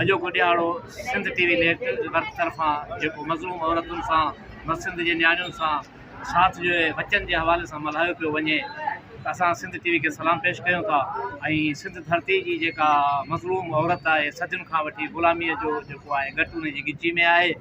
اڄوڪو ڏيهاڙو Sindh T V network طرفان جيڪو مظلوم عورتن سان ۽ سنڌ جي نياڻين سان ساٿ جوڙي ٻچن جي حوالي سان ملهايو پيو وڃي ته اسان سنڌ ٽي وي کي سلام پيش ڪيون ٿا ۽ سنڌ ڌرتي جي جيڪا مظلوم عورت آهي صدين کان وٺي غلامي جو جيڪو آهي ڳٽ ان جي ڳچي ۾ آهي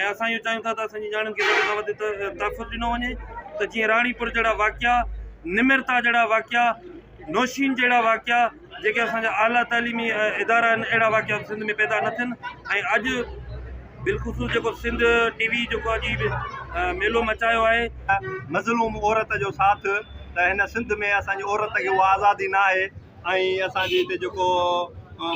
۽ اسان اهو چاهيون ٿا ته اسان جي نياڻين کي وڌ کان وڌ تحفظ ڏنو وڃي ته جيئن راڻيپور جهڙا واقعا نمرتا جهڙا واقعا نوشين جهڙا واقعا جيڪي اسان جا اعليٰ تعليمي ادارا آهن اهڙا واقعا سنڌ ۾ پيدا نه ٿين ۽ اڄ بالخصوص جيڪو سنڌ ٽي وي جيڪو اڄ ميلو مچايو آهي مظلوم عورت جو ساٿ ته هن سنڌ ۾ اسان جي عورت کي اها آزادي ناهي ۽ اسان جي هتي جيڪو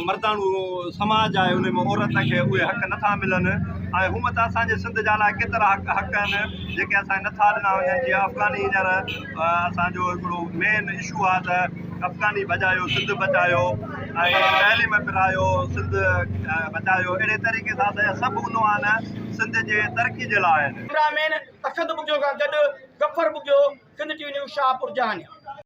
مرداڻو سماج آهي ان ۾ عورت کي اهي حق نٿا ملن ۽ هونء ته اسان جي سنڌ جا لاء ڪيترا حق حق آهن جيڪي اسان کي نٿا ڏنا وڃن جيئن افغاني هينئر اسان جو هڪڙو مين اشو آهي ته افغاني بچايو سنڌ بچايو ۽ دهلي ۾ پرايو سنڌ بچايو اهڙي طريقي سان اسان جا سڀ عنوان سنڌ جي ترقي جي لاء آهن ڪيمرا مين اسد ٻگهيو کان گڏ Zafar Bughio, Sindh T V news, Shahpur Jahani.